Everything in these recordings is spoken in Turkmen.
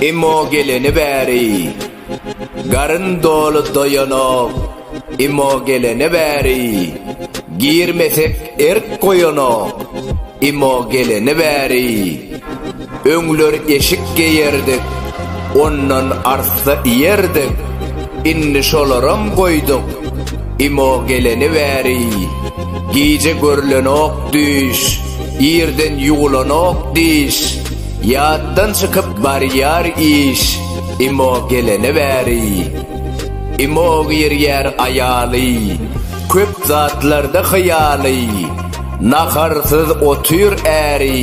Imo geleni bäri Garyn doly doýanok Imo geleni bäri Girmesek erk goýanok Imo geleni bäri Öňler eşik geýerdik, ondan arssa iýerdik, indi şolaram goýduk, imo geleni bäri, gije görlenok düýş, irden ýuwlanok diş, ýatdan çykyp barýar iş, imo geleni bäri. Imo girýär aýaly, köp zatlarda hyýaly, naharsyz otyr äri,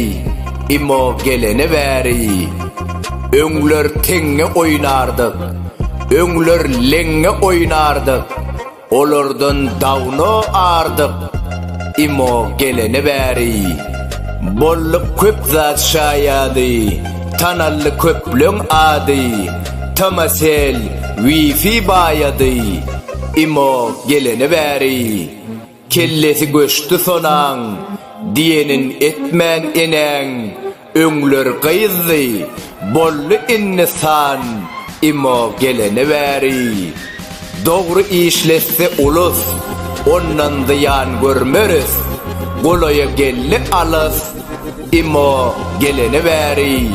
Imo gelene bäri öňler teňňe oýnardyk, öňler leňňe oýnardyk, olardan dawno ardyk. Imo gelene bäri bolly köp zat şaýady, tanaldy köpleň ady, Tamasel, Wi-Fi baýady. Imo gelene bäri Kellesi göçdi sonaň, diýenin etmän enäň, öňler gyzdy, boldy indi san, imo gelene bäri. Dogry işletse ulus, ondan zyýan görmeris, golaýa geldi alys, Emma gelene bäri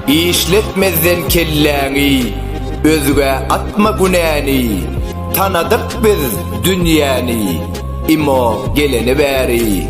işletmezden kelläňi özgä atma günäni Tanadyk biz dünýäni Emma gelene bäri